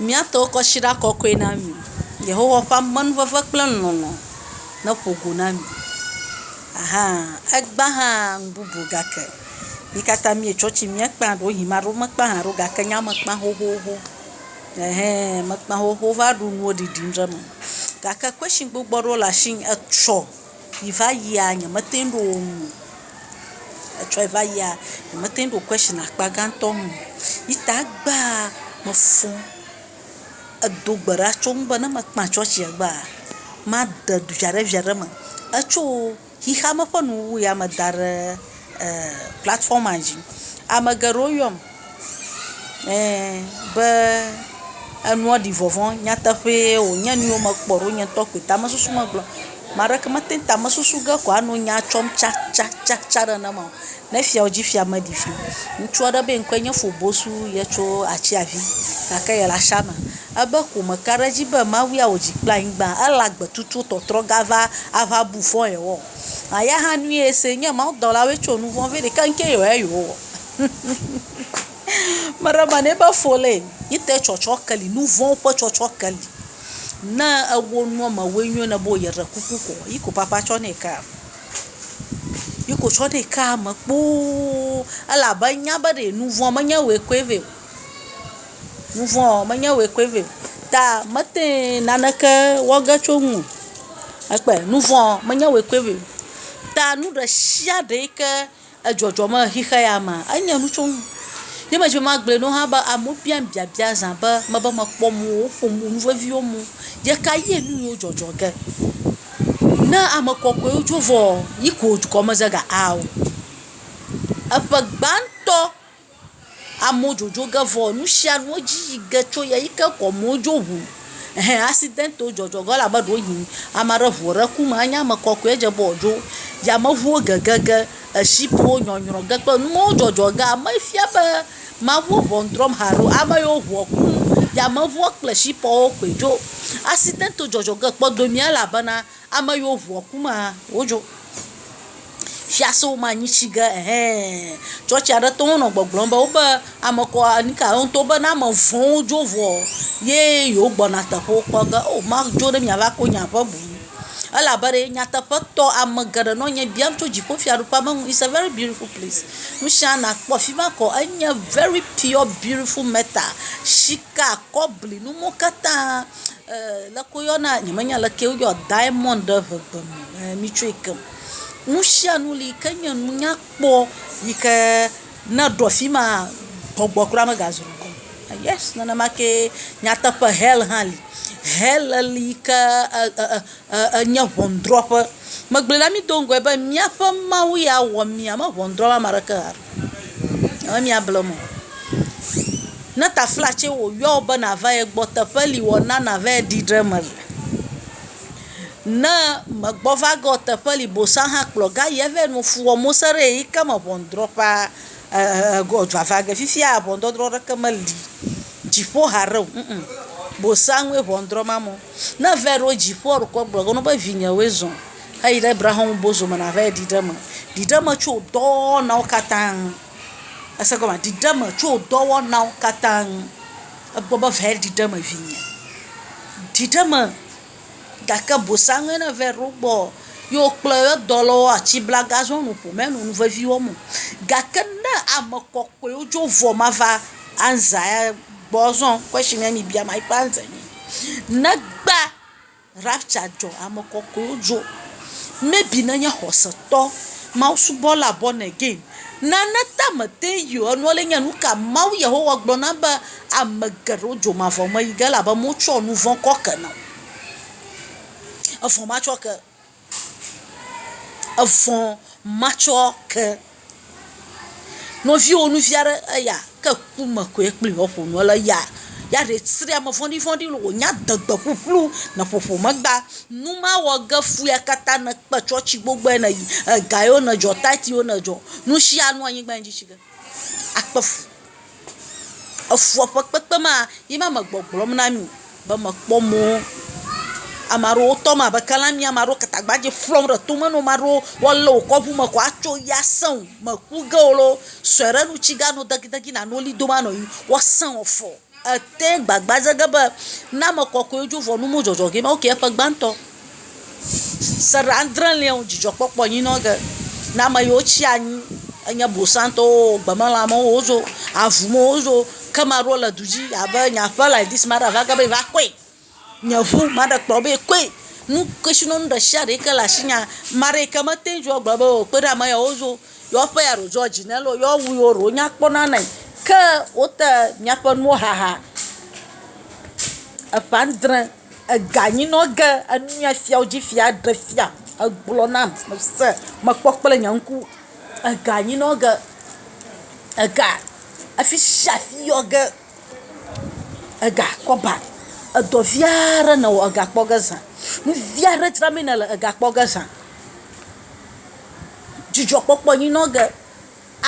Mía tɔ kɔshiɖa kɔkɔe na mi. Yehowa ƒe amenuveve kple lɔlɔ̃ neƒo go na mi. Ahaa, egbea hã nu bubu gake mí katã míetsɔ tsi míekpã. Ɖewohĩ ame aɖewo mekpã hã ɖe o gake nye mekpã xoxoxo. Ɛhɛɛ mekpã xoxoxo va ɖu nuwo ɖiɖim ɖe eme. Gake kwɛshi gbogbo aɖewo le asinye etsɔ. yi va yia nyemete ŋu ɖo ŋu o. Etsɔ yi va yia nyemete ŋu ɖo question akpa gãtɔ ŋu o. Yi ta egbea mefɔ edo gbe ɖa tso eŋu be ne mekpã tsɔtsia egbea, made viaɖevia ɖe eme. Etso xexeame ƒe nuwuwu ya me da ɖe e platfɔma dzi. Ame geɖewo yɔm. Eee be enua ɖi vɔvɔ̃ nyateƒee wònye nu yiwo mekpɔ ɖo nye ŋutɔ koe tamesusu megblɔ. Ame aɖeke mete ŋu tamesusu ge ko ano nya tsɔm tsatsatsatsa ɖe nenema o. Ne fia wodzi fia meɖi vi o. Ŋutsu aɖe be ŋkɔe nye Fobosu ye tso Atsevi gake yele Asha me. Ebe ko meka ɖe edzi be Mawu ya wò dzi kple anyigba, ele agbe tutu tɔtrɔ gava ava bu fɔ yewɔ. Eya hã nu ye se nye mawudɔlawoe tso nu vɔ̃ vɛ ɖeka ŋkee yewɔ ya yewowɔ. Meɖe mane ebe fɔ le yi te tsɔtsɔ ke li nu vɔ̃ ƒe tsɔtsɔ ke li. Ne ewo nua me woe nyo ne be yeɖe kuku ko yi ko papa tsɔ nɛ ka. Yi ko tsɔ nɛ ka me kpoo ele abe enya be ɖe nu vɔ̃ menye woe koe vɛ o. Nu vɔ̃ menye woe koe vɛ o. Ta mete naneke wɔ ge tso ŋu o. Ekpɔe nu vɔ̃ menye woe koe vɛ o. Ta nu ɖe sia ɖe yi ke. Edzɔdzɔ me xixe ya ma, enye nu tso ŋu. Ye me dzi be magblɔe na wo hã be amewo biam biabia zã be mebe mekpɔ mɔ woƒom nu veviwo mɔ ye ka ye nu yiwo dzɔdzɔ ge. Ne ame kɔkɔewo dzo vɔ yi ko gɔme ze ga ao. Eƒe gbãtɔ Amewo dzodzo ge vɔ nu sia nu edzi yi ge tso ya yi ke gɔme wodzo ŋu. Ehe asidɛntiwo dzɔdzɔ ge elabe ɖewo yi ame aɖe ŋu ɖe ku me anye ame kɔkɔe edze be wodzo. Yameŋuwo gege ge, eshipiwo nyɔnyrɔ ge kple nuwo dzɔdzɔ ge ame efia be Mawu wo ŋɔn drɔ̃m hã alo ame yiwo ŋua ku yameŋua kple eshipiawo koe dzo. Asidɛntiwo dzɔdzɔ ge kpɔdomea elabena. Ame yiwo ŋua ku mea, wodzo. Fiasewo ma nyi tsi ge ɛhɛɛɛɛ. Tsɔtsi aɖe tɔwo nɔ gbɔgblɔm be woƒe ame kɔ nika ye woŋtɔwo be ne ame vɔ̃wo dzo vɔ ye yewo gbɔna teƒewo kpɔ ge. Oo madzo ɖe miava ko nye aƒe boŋ. Elabe ɖe nyateƒetɔ ame geɖe nɔ nye biam tso dziƒofiaɖuƒea be nu. It's a very beautiful place. Nu sia nakpɔ afi ma kɔ. Enye very pure beautiful metal. Shika, kɔbli, nuwo katã. Leke woyɔna, nyemenya leke woyɔ diamɔnd ɖe ŋegbe me ɛɛ mitsɔe ke o. Nu sia nu li yi ke nye nu nyakpɔ yi ke ne eɖɔ fi maa, gbɔgbɔ kura megazu ŋku o. Yɛsi nenema kee nyateƒe hɛl hã li. Hɛl li yi ke ɛ ɛ ɛ ɛ enye ŋɔnudrɔ̃ƒe. Megblɔe na mi do ŋgɔe be míaƒe Mawu ya wɔ mí ame ŋɔnudrɔ̃la ame aɖeke hã ɖe o. Alo mía ble mɔ. Ne taflatse wò yɔ wò be na va ye gbɔ, teƒe li wɔ na na va yi ɖi ɖe eme le. Ne me gbɔ va ge wò teƒe li bosa hã kplɔ ga yi eve nu fu wɔ mose ɖe yi ke me ʋɔnudrɔ ƒa eer go dua va ge. Fifia ʋɔnudɔdrɔ ɖeke me li dziƒo haɖe o ŋ ŋ. Bosa ŋue ʋɔnudrɔ ma mɔ. Ne ve ɖo dziƒo ɖokɔ gblɔ ge ne be vinye woe zɔ̃. Eyi ɖe Brahon Bozo me nava yi ɖiɖe me. Ɖiɖe me tso wò dɔwɔnawo katã ŋu. Èse gɔmea? Ɖiɖe me tso wò dɔwɔnawo katã ŋu. Egbɔ be va yi ɖiɖe me vinye. Ɖiɖe me gake bosaŋue ne va yi ɖo gbɔ ye wokplɔ ye dɔlawo atsi bla gazɔ nu ƒo menɔ nu vevi wɔm o. Gake ne ame kɔkɔewo dzo vɔ mava anza ya gbɔ zɔ? Question ye mibia ma yi ƒe answer nye negba. Rapture dzɔ, ame kɔkɔewo dzo. Maybe ne nye xɔsetɔ, Mawu subɔla born again, nane ta mete ŋu yi o. Enua le nye nuka Mawu Yehowa gblɔ nam be ame geɖewo dzo mavɔ me yi ge elabe motsɔ nuvɔ̃ kɔ ke nam. Evɔ matsɔ ke. Evɔ̃ matsɔ ke nɔviwò nɔvi aɖe eya ke ku me koe kple yewo aƒo nu. Ele eya ya ɖee srɔ̃ ame vɔ̃ɖi vɔ̃ɖi lɔ wò nya adegbe ƒuƒlu nɔ ƒoƒo megba. Nu ma wɔ ge fu ya katã ne kpe tsɔtsi gbogboe ne yi. Ega yewo ne dzɔ, tati yewo ne dzɔ. Nu sia nu anyigba dzi tsi ge akpe fu. Efɔ ƒe kpekpe ma ye ma me gbɔgblɔm na mi be mekpɔ mɔ ame aɖewo tɔm abe kalami ene, ame aɖewo gatagbadze ƒlɔm ɖe tome na wo, ame aɖewo woalé wò kɔ ŋu me ko atso yia sẽ wò, mèku ge o loo, sɔe ɖe nu tsi gano degidegi nàno li dom anɔ anyi woasẽ wɔ fɔ. Ète gbagba dze ge be ne ame kɔkɔe dzo vɔ nu medzɔdzɔ gee ma, woke eƒe gbãtɔ. Se ɖe adre lia wo dzidzɔ kpɔkpɔ nyi nɔ ge ne ame yiwo tsi anyi enye bosantɔwo o gbemelã me wo zo avu me wo zo ke ame aɖewo le du dzi abe nye aƒe like dis ame aɖe ava ge be yeva kɔe. Nye ŋu ame aɖe kplɔ be kɔe. Nu kesinɔnu ɖe sia ɖe yi ke le asinye ame aɖe yi ke mete ŋu agblɔ be o kpe ɖe ame yawo ŋu o. Yewo aƒe ya ɖo George ne lɔ yewo awu yiwo ɖewo nya kpɔ na nɛ. Ke wote míaƒe nuwo haha eƒe adre. Ega nyi nɔ ge enua fiawo dzi fia ɖe fia egblɔ nam se mekpɔ kple nye ŋku. Ega nyi nɔ ge ega afi sia afi yɔ ge ega kɔ ba edɔ vi aɖe nɔ wɔ ega kpɔ ge zã. Nu vi aɖe dzra mee nele ega kpɔ ge zã. Dzidzɔkpɔkpɔ nyi nɔ ge.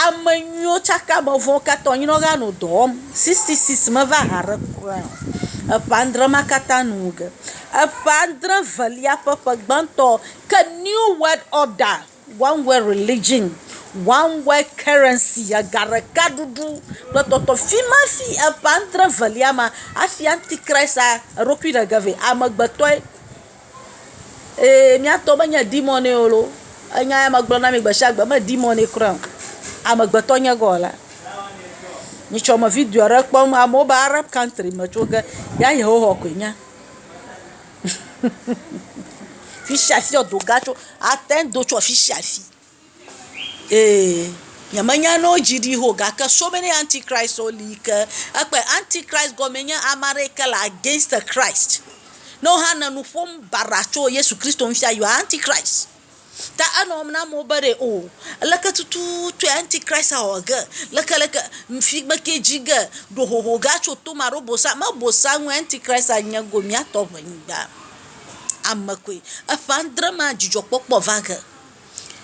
Ame nyuiwo tsaka ame vɔ̃wo katã o. Nyɔnua hã nɔ dɔ wɔm. Sixty six meva ha ɖe kura o. Eƒe adre ma katã nu wu ge. Eƒe adre velia ƒe ƒe gbãtɔ ke new world order, one world religion, one world currency ega ɖeka ɖuɖu kple tɔtɔ. Fi ma hafi eƒe adre velia ma hafi antichrist eɖokui ɖe ge vɛ. Amegbetɔe. Ee, mía tɔ menye demoniwo o loo, enya ya megblɔ na mi gbe sia gbe, menye demoniwo kura o, amegbetɔ nye God la. Mi tsɔ me video ɖe kpɔm, amewo be Arab country me tso ge, ya Yehowa koe nya. Fisia fia wodo ga tso, ate ŋu ado tso afisia afi. Ee, nyemenya ne wodzi ɖi ho gake so many antikristwo li yi ke ekpe. Antikrist gɔmee nye ame aɖe yi ke le against Krist. Ne wo hã le nu ƒom baɖa tso Yesu Kristo ŋuti you are antikrist. Ta enɔ wɔm na amewo be ɖe o leke tututue antikrist awɔ ge, leke leke figbe ke dzi ge ɖo hoho ge atso to me alo bosã. Me bosã ŋue antikrist nye go mía tɔ ŋe nyigba. Ame koe. Eƒe adre mea dzidzɔkpɔkpɔ va ge.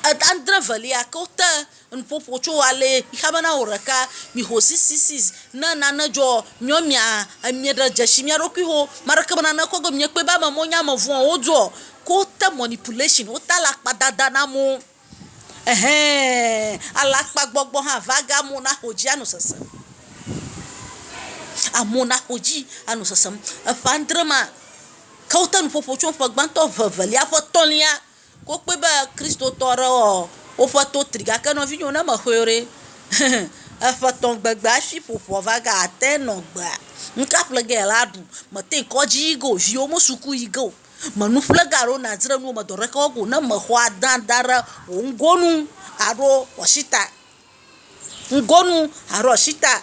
Adre velia ke wote nuƒoƒo tso ale xea be na wò ɖeka mixo cc's ne nane dzɔ miɔ mia mieɖe dzesi mia ɖokui ho ame aɖeke me nane kɔ ge miekpɔe be ame mawo nye ame vɔ̃ wodoɔ ke wote mɔnipulation wote alakpadada na amewo ehee alakpagbɔgbɔ hã va ge amewo naxɔ dzi anɔ sesem amewo naxɔ dzi anɔ sesem eƒe adre ma ke wote nuƒoƒo tso ƒe gbãtɔ eve evelia ƒe etɔ̃lia. Ko kpɔe be Kristotɔ aɖewo wɔ woƒe to tri, gake nɔvinyewo, ne mexɔe o ɖe, eƒe etɔ̃ gbegbe hafi ƒoƒua va ge ate ŋu anɔ agbea. Nuka ƒle ge la aɖu? Mete ŋu kɔdzi yi ge o, viwo me suku yi ge o, me nu ƒle ge alo nadzra nuwo o, me dɔ aɖeke wɔ ge o, ne mexɔ adea da ɖe wò ŋgonu alo wò asi ta, ŋgonu alo asi ta.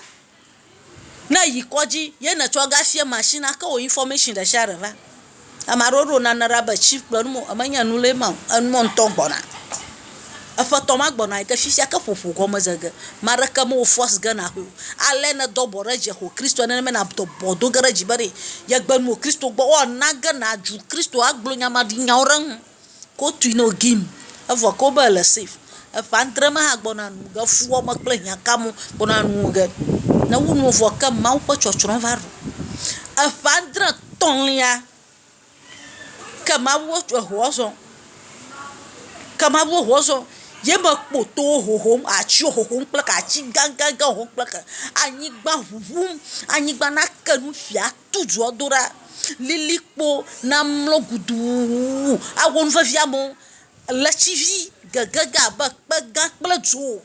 Ne èyi kɔdzi ye nètsɔ ga sie machine ake wò information ɖe sia ɖe va, ame aɖewo ɖo nane ɖa be chief kplɔe, wonum be menye enu lee ma o, enumɔ ŋutɔ gbɔna. Eƒetɔ ma gbɔna yi ke fifia ke ƒoƒo gɔme ze ge, ame aɖeke mewò force ge nàxɔe o. Ale nèdo abɔ ɖe dzi axɔ Kristoa nenema nàdo abɔ do ge ɖe dzi be ɖe yegbe nu wò Kristo gbɔ. Woana ge nàdzu Kristo agblɔ nyamaɖinyawo ɖe eŋu. Kotui no gim evɔ ko be le safe. Eƒe adre me hã gbɔna nu ge fuɔ me kple hiã ka mo gbɔna nu ge. Ne wu nu vɔ ke Mawu ƒe tsɔtsrɔ̃ va ɖo. Eƒe adre tɔ̃lia ke Mawu tsɔ eŋua zɔ̃. Ke Mawu eŋua zɔ̃ ye me kpo towo ʋuʋum, atsiwo ʋuʋum kple ke atsi gãgãgã ʋuʋum kple ke anyigba ʋuʋum. Anyigba nake nu ƒia. tu dua do ɖa, lilikpo namlɔ guduuuu awɔ nu vevi amewo, ʋletivi gege ge abe kpe gã kple dzo,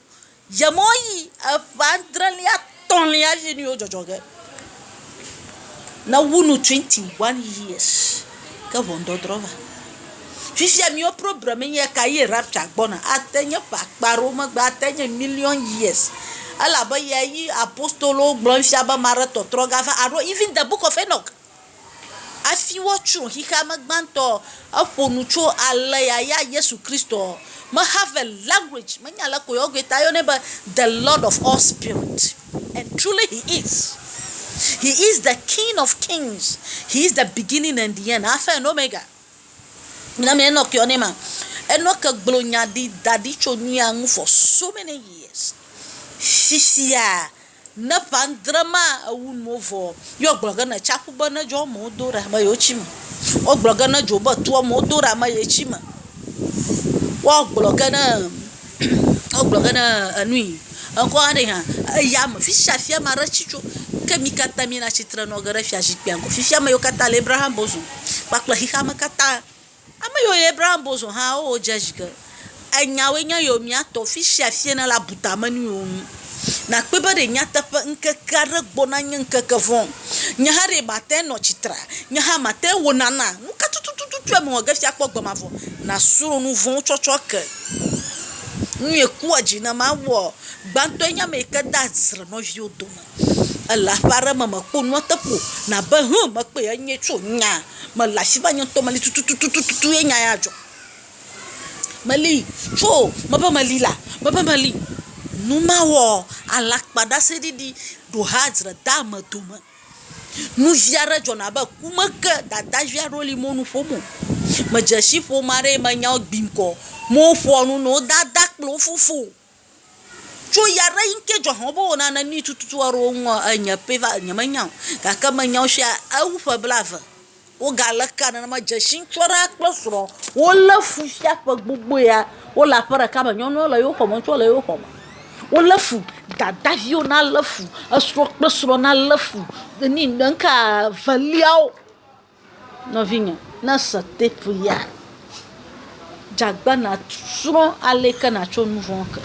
yemewoyi eƒe adrelia, etɔ̃lia ye nu yewo dzɔdzɔ ge, nawu nu twenty one years. Ke ʋɔnudɔdrɔ̃ va. Fifia miwo problem ye nye ka ye rapture gbɔna. Ate nye ƒe akpa aɖewo megbe, ate nye million years elabe ya ye apostolowo gblɔ fia be maɖe tɔtrɔ ga va alo even the book of Enoch hafi woatsrɔ̃ xexea me gbãtɔ eƒo nu tso ale ya ya Yesu Kristo me have a language menya aleke yewoyɔe ta yɔnɛ be the Lord of all spirit. And truly he is, he is the King of kings, he is the beginning and the end, Alpha and Omega. Mina mi Enoch yɔ ne ma. Enoch gblɔ nya ɖi da ɖi tso nuya ŋu for so many years. Xixia ne ƒe andre ma ewu nuwo vɔ ye wogblɔ ge ne tsaƒu be ne dzo amewo do ɖa be yewoatsi me. Wogblɔ ge ne dzo be toa amewo do ɖa be yetsi me. Woagblɔ ge ne. Wogblɔ ge na enui ekɔ aɖe hã eya me fi sia fi ame aɖe tsi tso. Ke mi katã mina tsi tre nɔ ge ɖe fiazikpuia gbɔ. Fifia ame yiwo katã le Abraham bosom kpakple xexea me katã. Ame yiwo le Abraham bosom hã wodze zi ge. Enyawoe nye yewo mia tɔ fi sia fi ne la bu tame na yewo. Nàkpɔe be ɖe nyateƒe ŋkeke aɖe gbɔna nye ŋkeke vɔ̃. Nye hã ɖee mate ŋu anɔ tsitre. Nye hã mate ŋu wòna na. Nu ka tutututue mewɔ ge fia kpɔ gbe mavɔ? Nàsrɔ̃ nu vɔ̃wo tsɔtsɔke. Nu ye kpɔa dzi na mawɔ gbãtɔe nye ame yi ke dea dzre nɔviwo dome. Èle aƒe aɖe me mèkpɔ nua te ƒo o, nàbe, Hũ! Mekpɔe, enyee tso. Nya mele afi ma nye ŋutɔ meli tututututu ye nya ya dzɔ. Meli, tso mebe meli la, mebe meli. Nu ma wɔ alakpaɖaseɖiɖi ɖo ha dzre de ame dome. Nu vi aɖe dzɔna abe ku me ke dada vi aɖewo li mɔ nu ƒom o. Medze si ƒom aɖee menya wo gbi ŋkɔ. Mɔ woƒoa nu nɔ wo dada kple wo fofo. Tso ɣe aɖe ɣi ŋkee dzɔ hɔ̃m be wowɔna nenui tututu aɖewo ŋu ɔ, enye pɛ va, nyemenya o. Gake menya wo shia, ewu ƒe blaeve. Wogalé kaa nenema. Dzeshi ŋutsu aɖe kple srɔ̃ wolé fu shia ƒe gbogbo ya wole aƒe ɖeka me. Nyɔnuɔ le yewo xɔme, ŋutsuɔ le yewo xɔme. Wolé fu. Dadaviwo na lé fu. Esrɔ̃ kple srɔ̃ na lé fu. Enu yi ŋkaa veliawo. Nɔvinye, ne èse tape ya, dze agbagba nàsrɔ̃ ale ke nàtso nu vɔ̃ ke.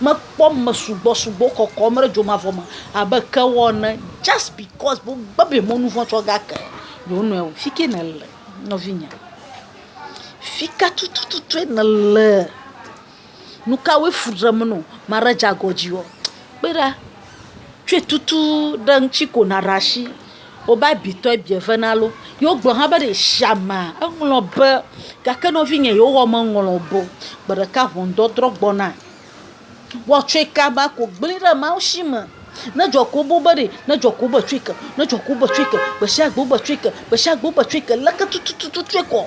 Mekpɔ ame sugbɔ sugbɔ kɔkɔm ɖe dzo mavɔ me abe kewɔ ene just because be wogbe be yemewo nu vɔ̃ tsɔ ge ake yewo nɔewo. Fi ke nèle nɔvinye, fi ka tutututue nèle? nukawoe fu ɖem nɔ maɖe dze agɔ dzi wɔ kpe ɖa tsɔe tutu ɖe ŋti ko naɖe asi wobe abi tɔ abi eve na lo ye wogblɔ hã be ɖesiame eŋlɔ be gake nɔvinye yehowa meŋlɔ be o gbeɖeka ʋɔnudɔdrɔ gbɔna woatsɔe kaba ko gble ɖe mawusi me ne dzɔ ko wobɔ be ɖe ne dzɔ ko wobetsɔe ke ne dzɔ ko wobetsɔe ke gbesiagbe wobetsɔe ke gbesiagbe wobetsɔe ke leke tututu tsɔe kɔ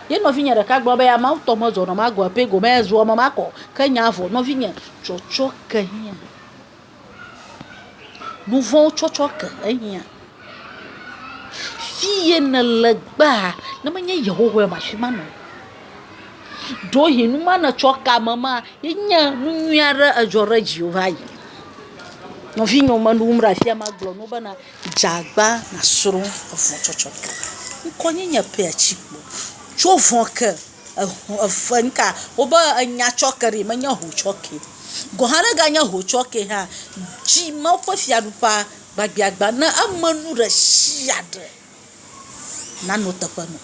Ye nɔvinye ɖeka gblɔ be ameawo tɔ me zɔnɔ ma gɔe pɛ gome zua eme ma kɔ. Ke nya vɔ nɔvinye tsɔtsɔ ke hiã. Nu vɔ̃wo tsɔtsɔ ke ehiã. Fi ye nèle gbaa, ne menye Yehowa o, afi ma nɔnɔ. Ɖewohĩ nu ma nètsɔ ke ame ma ye nye nu nyui aɖe edzɔ ɖe dziwò va yi. Nɔvinye wò menɔ wum ɖe afia magblɔ na wo bena. Dza agba nasrõ evɔ̃ tsɔtsɔ ke. Ŋkɔ nye nye pea tsi kpo. Tso vɔ̃ ke eho efe ŋka wobe enya tsɔ ke ɖi menye ho tsɔ ke o. Gɔ̃ hã ne ganye ho tsɔ ke hã dzi Mawu ƒe fiaɖuƒea gbagbeagba ne eme nu ɖe sia ɖe. nanɔ teƒe nɔ.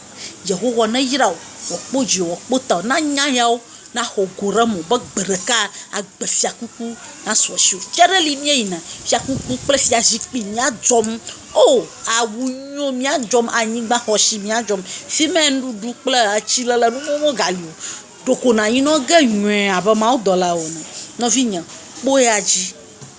Yehowa neyra wò wòakpɔ dziwò, wòakpɔ tawò, na nya yawo naxɔ go ɖe eme be gbe ɖeka agbe fiakuku nasu asiwò. Fia aɖe li míeyina, fiakuku kple fiazikpui míadzɔm. Oo awu nyuiwo míadzɔm, anyigbaxɔse míadzɔm, fi ma ya nuɖuɖu kple atsilele nu vɔ̃wo megali o. Ɖeko nànyinɔ ge nyuie abe mawudɔla ene. Nɔvinyem, kpɔ eya dzi.